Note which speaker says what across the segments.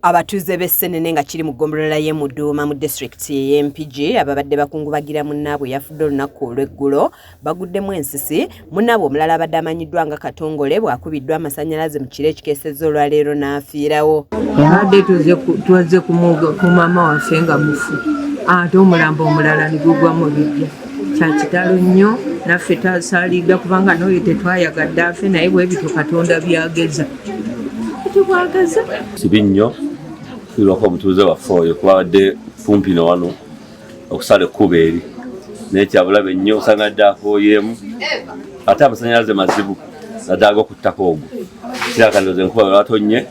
Speaker 1: Abatuuze b'e Ssenene nga kiri mu ggombolola y'e Muduuma mu disitulikiti ey'e Mpigi ababadde bakungubagira munnaabwe eyafudde olunaku olw'eggulo baguddemu ensisi munnaabwe omulala abadde amanyiddwa nga Katongole bw'akubiddwa amasannyalaze mu kiro ekikeesezza olwaleero n'afiirawo. Yabadde
Speaker 2: tuzze ku maama waffe nga mufu ate omulambo omulala ne gugwa mu biggya kya kitalo nnyo naffe twasaalidda kubanga n'oyo tetwayagadde afe naye bwe bityo Katonda byageza.
Speaker 3: sibi nnyo tulwako omutuuze waffe oyo kuba abadde kumpi no wano okusala ekkuba eri naye kyabulabe nnyo osanga dde akooyeemu ate amasanyalaze mazibu naddala gokuttako ogwo kirakandoze enkuba lwatonnye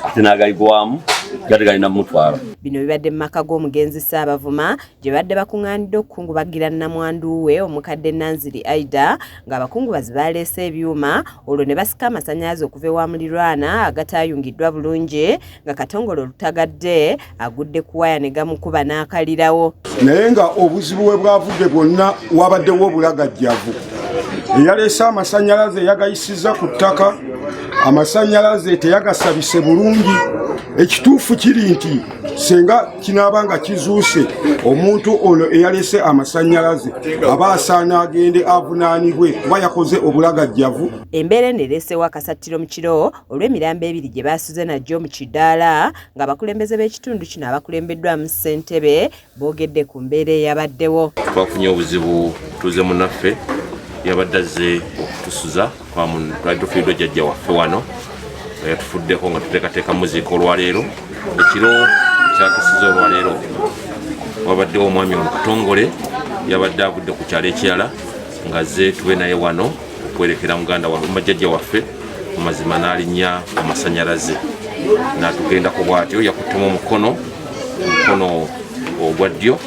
Speaker 3: ate n'agaigwamu gati galina mumutwalo bino bibadde mu maka
Speaker 1: g'omugenzi Ssaabavuma gye babadde bakung'aanidde okukungubagira nnamwandu we omukadde Nanziri Aida ng'abakungubazi baaleese ebyuma olwo ne basika amasannyalaze okuva ewa mulirwana agataayungiddwa bulungi nga katongole olutagadde agudde ku waya ne gamukuba n'akalirawo naye nga
Speaker 4: obuzibu we bwavudde bwonna wabaddewo obulagajjavu eyaleese amasannyalaze yagayisizza ku ttaka amasannyalaze teyagasabise bulungi ekituufu kiri nti senga kinaaba nga kizuuse omuntu ono eyalese amasannyalaze aba asaana agende avunaanibwe kuba yakoze obulagajjavu embeera eno ereesewo
Speaker 1: akasattiro mu kiro olw'emirambo ebiri gye baasuze nagyo mu kidaala ng'abakulembeze b'ekitundu kino abakulembeddwamu ssentebe boogedde ku mbeera eyabaddewo twafunye obuzibu
Speaker 3: tuze munaffe yabadde azze okutusuza twali tufiiddwa jjajja waffe wano nga yatufuddeko nga tuteekateeka muziika olwaleero ekiro kyakisiza olwaleero wabaddewo omwami omukutongole yabadde avudde ku kyalo ekirala nga ze tube naye wano okwerekera muganda wamajjajja waffe mu mazima n'alinnya amasanyalaze natugendako bwatyo yakuttemu omukono omukono ogwa ddyo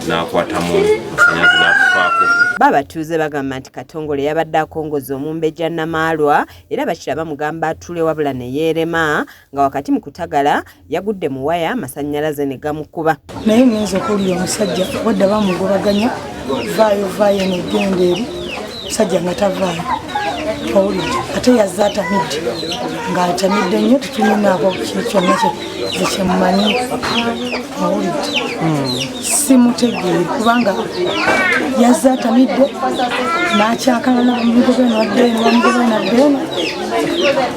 Speaker 3: n'akwatamu masanyazi n'akufaako babatuuze bagamba
Speaker 1: nti katongole yabadde akongoza omumbejja namaalwa era bakira bamugamba atule wabula ne yeerema nga wakati mu kutagala yagudde mu waya amasannyalaze ne gamukuba naye ngenza okuwulira
Speaker 5: omusajja wadde bamugobaganya vaayo vaayo negenda eri musajja nga tavaayo owulidde ate yazze atamidde ng'atamidde nnyo tetunyinaako kyonna kyekyemumanyi owulidde hmm. simutegeere kubanga yazze atamidde n'akyakalana bamugobe nwaddeeno bamugobe naddeeno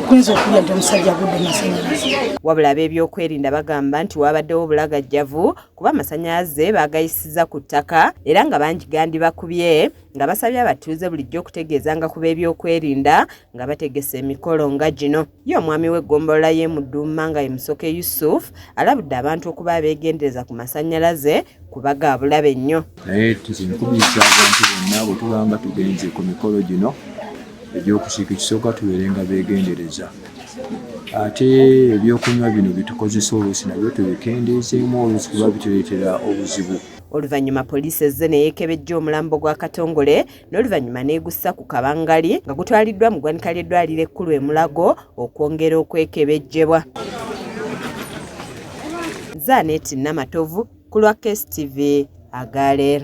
Speaker 5: kuyinza okulya nti omusajja agudde masanyalaze wabula
Speaker 1: ab'ebyokwerinda bagamba nti waabaddewo obulagajjavu kuba amasanyalaze baagayisiza ku ttaka era nga bangi gandibakubye nga basabye abatuuze bulijjo okutegeezanga ku b'ebyokwerinda nga bategese emikolo nga gino ye omwami w'eggombolola y'e Muduuma nga ye Musoke Yusuf alabudde abantu okuba abeegendereza ku masannyalaze kuba ga bulabe nnyo naye tuzinkubiriza
Speaker 6: abantu bonna bwe tubanga tugenze ku mikolo gino egy'okusiika ekisooka tubeere nga beegendereza ate ebyokunywa bino bitukozesa oluusi nabyo tubikendeezeemu oluusi kuba bituleetera obuzibu Oluvannyuma poliisi
Speaker 1: ezze ne yeekebejja omulambo gwa Katongole n'oluvannyuma n'egussa ku kabangali nga gutwaliddwa mu ggwanika ly'eddwaliro ekkulu e Mulago okwongera okwekebejjebwa. Zaaneti Namatovu ku lwa KSTV Agaleer.